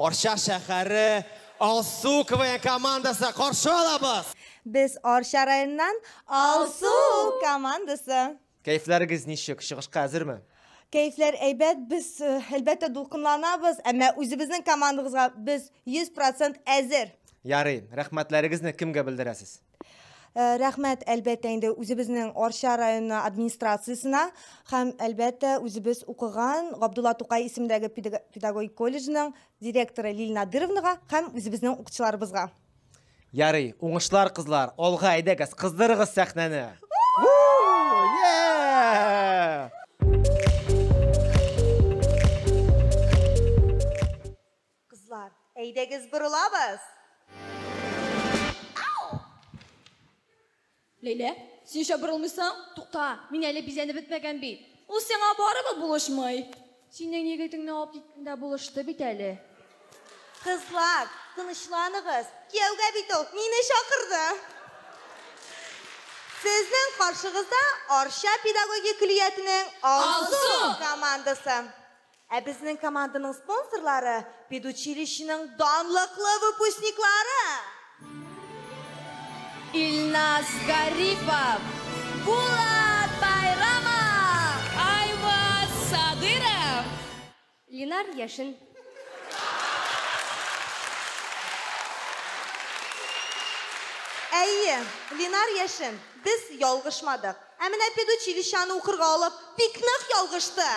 Арча шәһәре Алсу КВН командасы каршы алабыз. Без Арча районыннан Алсу командасы. Кәйфләрегез ничек? Чыгышка әзерме? Кәйфләр әйбәт, без э, әлбәттә дулкынланабыз, әмма үзебезнең командабызга без 100% әзер. Ярый, рәхмәтләрегезне кемгә белдерәсез? Э, рәхмәт әлбәттә инде үзебезнең арча районы администрациясенә һәм әлбәттә үзебез укыган габдулла тукай исемендәге педагогик колледжның директоры лилия надыровнага һәм үзебезнең укытучыларыбызга ярый уңышлар кызлар алга әйдәгез кыздырыгыз сәхнәне Кызлар, әйдәгез борылабыз! Ләйлә, син нишләп борылмыйсың? Тукта, мин әле бизәнеп бетмәгән бит. Ул сиңа барыбер булышмый. Синең егетеңне алып киткәндә булышты бит әле. Кызлар, тынычланыгыз, кияүгә бит ул мине чакырды. Сезнең каршыгызда Арча педагогик көллиятенең Алсу командасы. Ә безнең команданың спонсорлары, педучилищеның данлыклы выпускниклары! Илназ Гарипов, Булат Байрамов! Айваз Садыров! Линар Яшин! Әйе, Линар Яшин, без ялгышмадык! Ә менә педучилищаны укырга алып, бик нык ялгышты.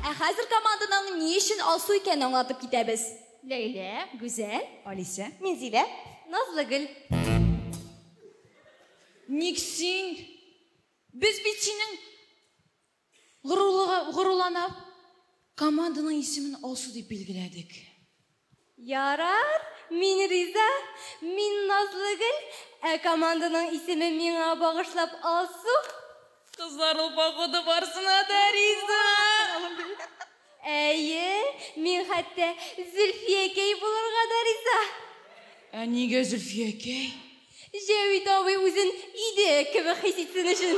Ә хәзер команданың ни өчен алсу икәнен аңлатып китәбез. Ләйлә, Гүзәл. Алисә. Минзилә. Назлыгөл. Ник син? Без бит синең Горурлыгы, горурланып, команданың исемен Алсу дип билгеләдек. Ярар, мин риза. Мин Назлыгөл, ә команданың исеме миңа багышлап Алсу. Кызлар ул погода барсына да риза. Әйе, мин хәтта Зөлфиякәй булырга да риза. Ә нигә Зөлфиякәй? Җәвит абый үзен иде кебек хис итсен өчен.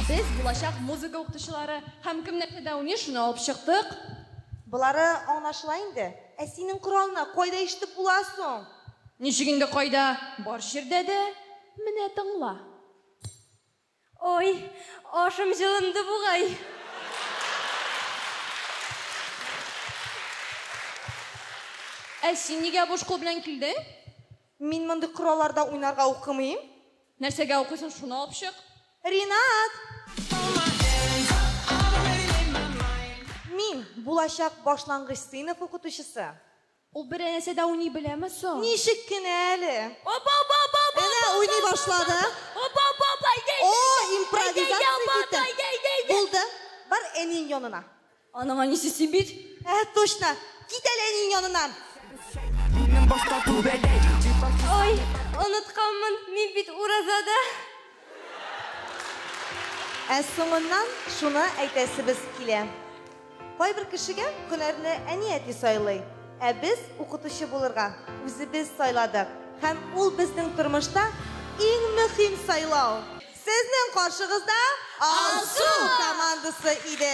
Без булачак музыка укытучылары һәм кем нәрсә дә уйный, шуны алып чыктык. Болары аңлашыла инде. Ә синең коралны кайда ишетеп була соң? Ничек инде кайда, бар җирдә дә. Менә тыңла. Ой, ашым җылынды бугай. Ә син нигә буш кул белән килдең? Мин мондый коралларда уйнарга укымыйм. Нәрсәгә укыйсың, шуны алып чык. Ринат! Мин, булачак башлангыч сыйныф укытучысы. Ул бер әнәсе дә уйный беләме соң? Ничек кенә әле! Оба-ба-ба-ба-ба-ба! Әнә уйный башлады. Оба-ба-ба-ба-ба! Әйдә, әйдә, әйдә! О, импровизация китте! Әйдә, ябата, әйдә, әйдә, әйдә! Булды, бар әниең янына. Аның әнисе син бит! Ә, точно! Кит әле әниең яныннан! Ой, онытканмын, мин бит уразада! Ә соңыннан шуны әйтәсебез килә. Кайбер кешегә һөнәрне әни-әти сайлый, ә без укытучы булырга үзебез сайладык һәм ул безнең тормышта иң мөһим сайлау. Сезнең каршыгызда Алсу командасы иде.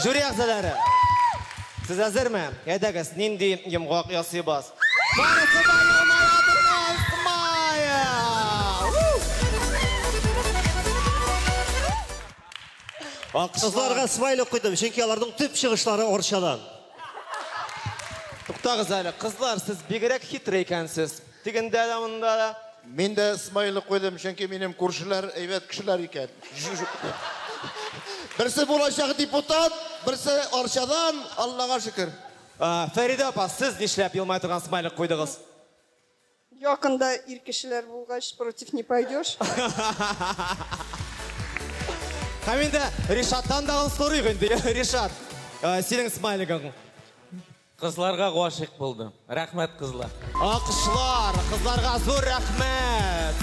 Жюри әгъзалары, сез әзерме? Әйдәгез, нинди йомгак ясыйбыз? Барысы да елмаябыз, Майя! Кызларга смайлик куйдым, чөнки аларның төп чыгышлары Арчадан. Туктагыз әле, кызлар, сез бигрәк хитрый икәнсез. Тегендә дә, монда да. Мин дә смайлы куйдым, чөнки минем күршеләр әйбәт кешеләр икән. Берсе булачак депутат, берсе Арчадан, Аллага шөкер. Фәридә апа, сез нишләп елмая торган смайлик куйдыгыз? Якында ир кешеләр булгач, против не пойдешь. Һәм инде Ришаттан да сорыйк инде, Ришат, синең смайлигың. Кызларга гашыйк булдым. Рәхмәт кызлар. Алкышлар кызларга зур рәхмәт.